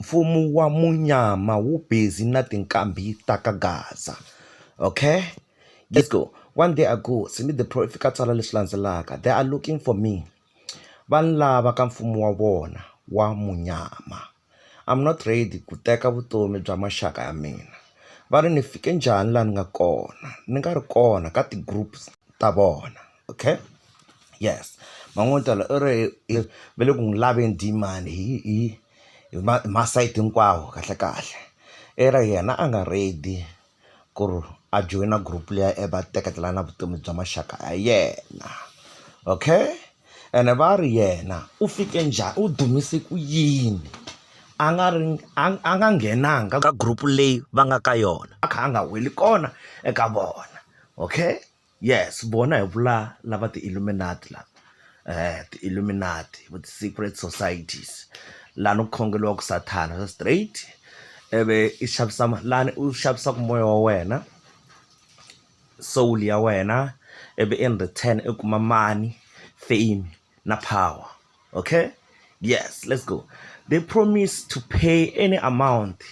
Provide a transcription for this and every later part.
mfumo wa munyama wu busy na tinqambi ta ka gaza okay let's go one day ago Simi the pro i fika a tsala leswi landzelaka they are looking for me va ni lava ka mfumo wa vona wa munyama I'm not ready ku teka vutomi bya maxaka ya mina va ri ni fike njhani laha ni nga kona ni nga ri kona ka ti-groups ta vona. okay yes man'wini tolo i ri va le ku n'wi laveni demand hi hi hi ma hi masayiti hinkwawo kahle kahle i ri yena a nga ready ku ri a joyina group liya i va teketela na vutomi bya maxaka ya yena okay ene va ri yena u fike njhani u dumise ku yini a nga ri a a nga nghenanga ka group leyi va nga ka yona a kha a nga weli kona eka vona okay. Yes vona hi vula lava ti-illuminate lava ti-illuminate vo ti-secret societies lani ku khongeriwaka sathana swa straight ivi i xavisa ma lani u xavisaka moya wa wena soul ya wena ivi in return i kuma money fame na power. Okay? Yes, let's go. They promised to pay any amount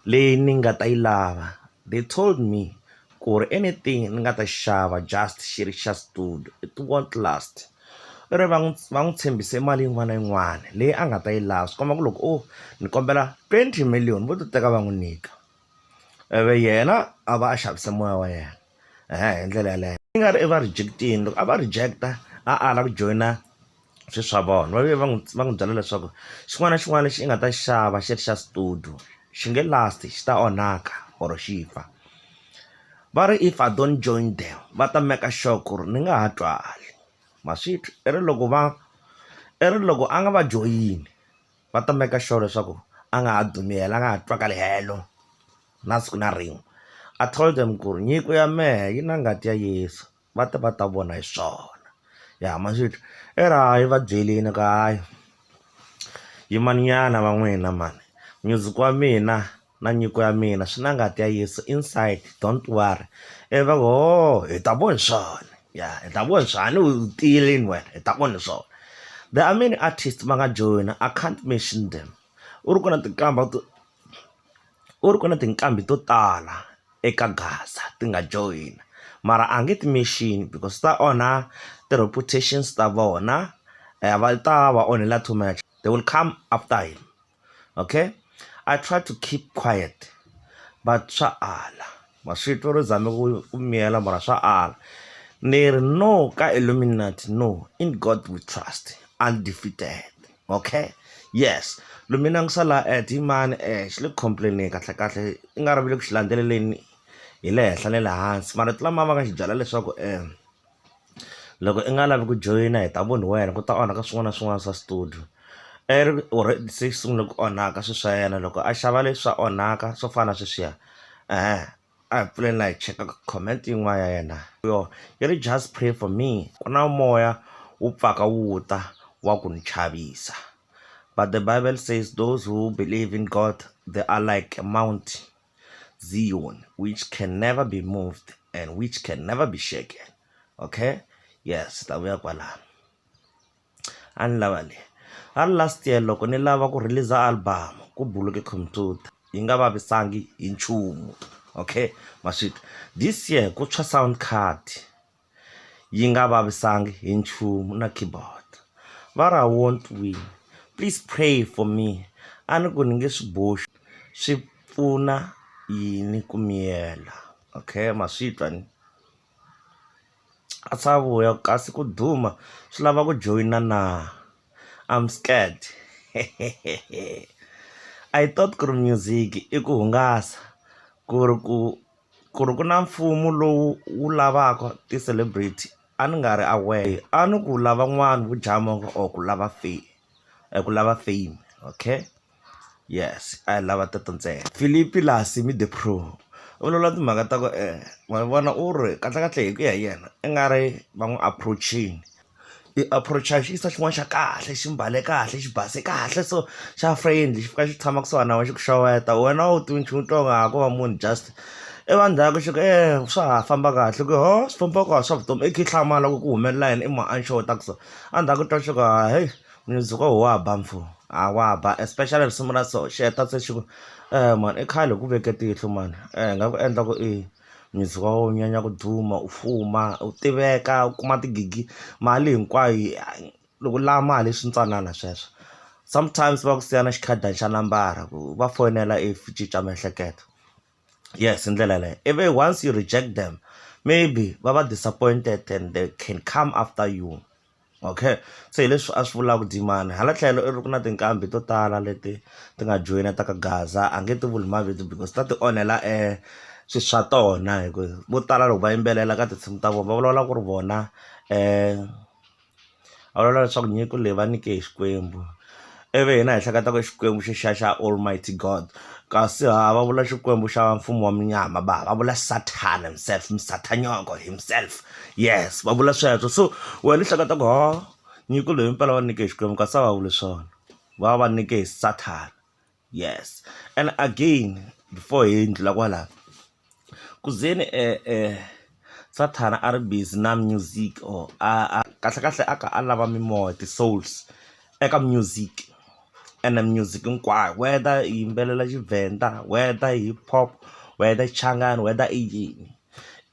leyi ni nga ta yi lava. They told me ku ri anything ni nga ta xava just xi ri xa studio it won't last i ri va n'wi va n'wi tshembise mali yin'wana na yin'wana leyi a nga ta yi lava swi komba ku loko o ni kombela twenty million vo ti teka va n'wi nyika. ivi yena a va a xavise moya wa yena hi ndlela yaleyo yi nga ri i va reject-ini loko a va reject-a a ala ku joyina swi swa vona va ve va n'wi va n'wi byela leswaku xin'wana na xin'wana lexi i nga ta xi xava xi ri xa studio xi nge last xi ta onhaka or xi fa va ri if I don't join them va ta make sure ku ri ni nga ha twali ma swi twa i ri loko va i ri loko a nga va joyini. va ta make sure leswaku a nga ha dumi helo a nga ha twakali helo na siku na rin'we I told them ku ri nyiko ya mehe yi na ngati ya Yeso va te va ta vona hi swona ya ma swi twa i ri hayi va byelini ku hayi yimani nyana va n'wina mhani music wa mina. na nyiko ya mina swi na ngati ya Yeso inside don't worry ivi va ku hoo hi ta vona swona ya hi ta vona swona a ni u tiyile yini wena hi ta vona swona there are many artists va nga joyina I can't mention them u ri ku na tinkamba to u ri ku na tinqambi to tala eka Gaza ti nga joyina mara a nge ti mention because ta onha ti-reputations ta vona va ta va onhela too much they will come after him. okay i try to keep quiet but swa ala ma swi twa ro zame ku miyela mara swa ala ni ri no ka illuminati no in god we trust undefeated okay yes lumina ngi sala at hi mani um xi le ku complaineni kahlekahle i nga ri vile ku xi landzeleleni hi le henhla ni le hansi marito lama va nga xi byela leswaku um loko i nga lavi ku joyina hi ta ku ni wena ku ta onhaka swin'wana na swin'wana swa studio i ri u ri se xi sungule ku onhaka swilo swa yena loko a xava leswi swa onhaka swo fana na sweswiya a hi pfuleni la hi cheka comment yin'wana ya yena yo yi ri just pray for me ku na moya wu pfaka wu ta wa ku ni chavisa but the bible says those who believe in God they are like a mount. Zion, which can never be moved and which can never be shaken. Okay? Yes, tavuya kwalano. Ani lava le. A last year loko ni lava ku release album ku buluke computer yi nga vavisangi hi nchumu. Okay? Maswita. This year ku tshwa sound card. yi nga vavisanga hi nchumu na keyboard. Va ra won't win, please pray for me. A ni ku ni nge swi boxi, swi pfuna yini ku miyela? Okay ma swi twa ni. A swa vuya ku kasi ku duma swi lava ku joyina na? I'm scared. I thought ku ri music-i i ku hungasa, ku ri ku ku ri ku na mfumo lowu wu lavaka ti-celebrity a ni nga ri aware a ni ku lava n'wana vo dlaya mongo or ku lava fame ku lava fame okay yes a hi lava teto ntsena Philip Lassie the pro u vulavula timhaka ta ku ma vona u ri kahlekahle hi ku ya hi yena i nga ri va n'wi approach-ini. i approach-a xi yisa xin'wana xa kahle xi mbale kahle xi base kahle so xa friendly xi fika xi tshama kusuhana na wena xi ku xeweta wena a wu tivi nchumu u twa ingaku a ko va munhu just i va ndzhaku xi ku e swa ha famba kahle ku ho swi famba ku a swa vutomi i kha i hlamala ku ku humelela yini i munhu a ni xeweta ta ku so a ndzhaku u twa xi ku ha heyi mundzuku a wa ha ba mfo a wa ha ba especially risimu ra so xi heta se xi ku mhani i khale hi ku veke tihlo mhani hi nga ku endla ku i. Music wa wena wu nyanya ku duma u fuma u tiveka u kuma tigigi mali hinkwayo yi loko u lava mali swi ntsanana sweswo sometimes va ku siya na xikhadana xa nambara ku va fonela if u cinca miehleketo yes hi ndlela yaleyo ivi once you reject them maybe va va disappointed and they can come after you. okay se hi leswi a swi vulaka Dimani hala tlhelo i ri ku na tinqambi to tala leti ti nga joyina ta ka gaza a nge ti vuli mavito because ta ti onhela swi swa tona hi ku vo tala loko va yimbelela ka tinsimu ta vona va vulavula ku ri vona va vulavula leswaku nyiko leyi va nike hi Xikwembu. ivi hina hi hleketa ku i xikwembu xi xa xa almighty God kasi haha va vula xikwembu xa mfumo wa munyama va va vula Satan himself musathanyoko himself yes va vula sweswo so wena u hleketa ku hoo nyiko leyi mpela va nyike hi xikwembu kasi a va vuli swona va va va nyike hi Satan yes and again before hi ndlhula kwala. Kuzeni Sathana a ri busy na music or a kahlekahle a kha a lava mimoya ti-souls eka music ene music hinkwayo whether hi yimbelela Tshivenda whether hip hop whether Xichangani whether i yini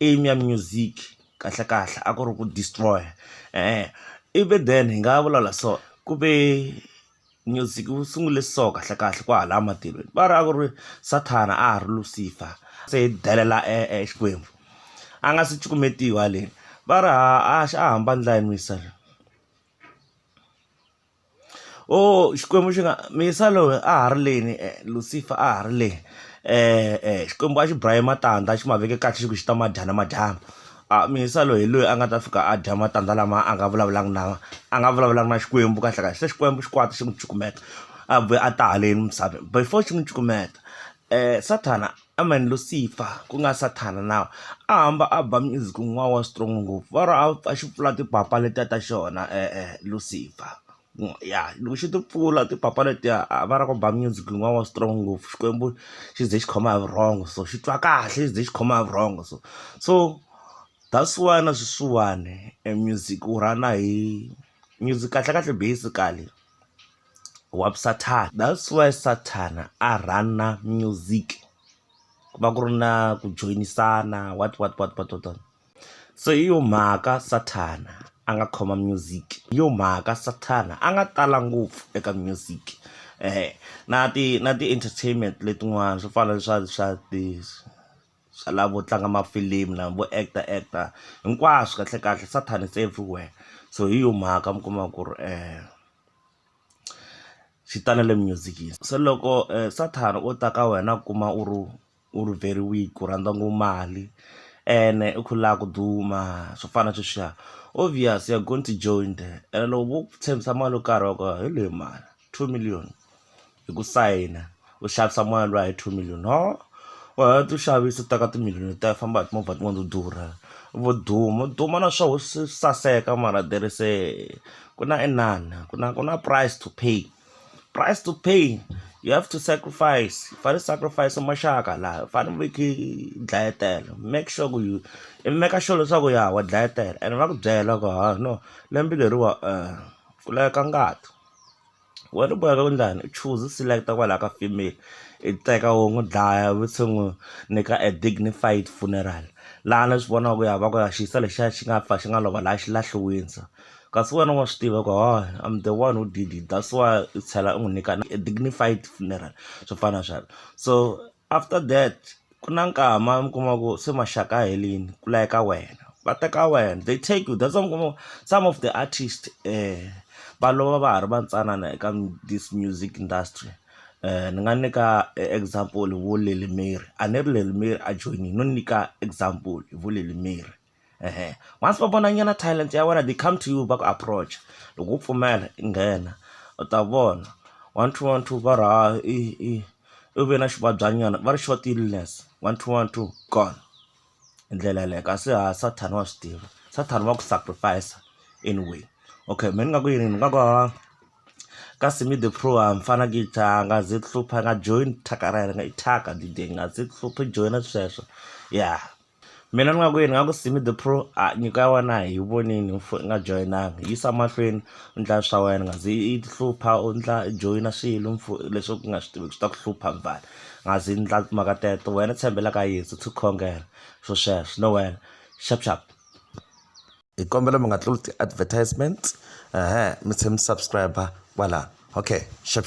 aim ya music kahlekahle a ku ri ku destroy even then hi nga vulavula so ku ve. Music wu sungule so kahle kahle kwahala matilweni va ri a ku ri sathana a ha ri lucifer se hi delela e e xikwembu a nga se cukumetiwa haleni va ri ha a xa a hamba ndlela ya muyisa loyi o xikwembu xi nga muyisa loyi a ha ri leni lucifer a ha ri le xikwembu a xi ba hi matandza xi ma veke kahle xi ku xi ta ma dya namadyambu. A Mhisa loyi hi loyi a nga ta fika a dya matandza lama a nga vulavulanga na a nga vulavulanga na Xikwembu kahle kahle se Xikwembu xi kwata xi n'wi cukumeta a vuya a ta haleni misaveni before xi n'wi cukumeta Sathana I mean Lucifer ku nga Sathana now a hamba a ba music wun'wana wa strong ngopfu va ri a xi pfula timpapa letiya ta xona Lucifer. ya loko xi ti pfula timpapa letiya a va lava ku ba music lowuya wa strong ngopfu Xikwembu xi ze xi khoma hi vurhongo so xi twa kahle xi ze xi khoma hi vurhongo so so that's why na sweswiwani e music wu rhana hi music kahle kahle basically wa sathana that's why sathana a rhana music ku va ku ri na ku joyisana what what what what . Se hi yo mhaka Sathana a nga khoma music, hi yo mhaka Sathana a nga tala ngopfu eka music. Na ti na ti-entertainment letin'wana swo fana na swa swa ti swa lava vo tlanga mafilimu lava vo act-a act-a, hinkwaswo kahlekahle Sathana is everywhere. So hi yo mhaka mi kuma ku ri xi ta na le music-ini. Se loko Sathana o ta ka wena a kuma u ri u ri very weak u rhandza ngopfu mali ene u kha u lava ku duma swo fana na sweswiya obvious you're going to join there ene loko vo ku tshembisa mali yo karhi wa ku he leyi mani two million hi ku sayina u xavisa moya luya hi two million no u heta u xavisa u teka timiliyoni letiya u famba hi timovha tin'wana to durha u vo duma u duma na swoho swi saseka mara there is a ku na inana ku na ku na price to pay. price to pay you have to sacrifice u fane u sacrifice maxaka laha u fane u veke dlayetela make sure ku yi i make sure leswaku ya wa dlayetela ene va ku byela ku ha no lembe leriwa ku laveka ngati wena u boheka ku endlani u choose u select kwalaya ka female i teka wo n'wi dlaya u se n'wi nyika a dignified funeral laha ni swi vonaka ku ya va ku ya xi yisa lexiya xi nga fa xi nga lova laha xilahliweni so. kasi wena wa swi tiva ku hawa I'm the one who did it that's why u tlhela u n'wi nyika na a dignified funeral swo fana na sweswo so after that ku na nkama mi kuma ku se maxaka a helini ku layeka wena va teka wena they take you that's why mi kuma ku some of the artist um va lova va ha ri va ntsanana eka this music industry um ni nga nyika example vo Lil Mary a ni ri Lil Mary a joyinile no nyika example hi vo Lil Mary. ehe once va vona nyana talent ya wena they come to you va ku approach loko wo pfumela i nghena u ta vona one two one two va ri ha i i u ve na xivabyanyana va ri short illness one two one two gone hi ndlela yeleyo kasi ha sathana wa swi tiva sathana wa ku sacrifice anyway okay mehe ni nga ku yini ni nga ku ha ka simi the pro a ni fana ku a nga ze ku hlupha a nga joyini thyaka ra yena i thyaka dideni a nga ze ku hlupha i joyina sweswo ya Mina ni nga ku yini ni nga ku Simi the pro a nyiko ya wena a hi vonile u i nga joyinangi yisa mahlweni u ndla swa wena u nga zi i ti hlupha u ndla i joyina swilo leswi u nga swi tiviki swi ta ku hlupha mfana u nga zi ndla timhaka teto wena tshembela ka Yeso tsho khongela swo sweswo no wena xap xap. Hi kombela mi nga tluli ti-advertisement mi tlhe mi subscribe kwala okay xap xap.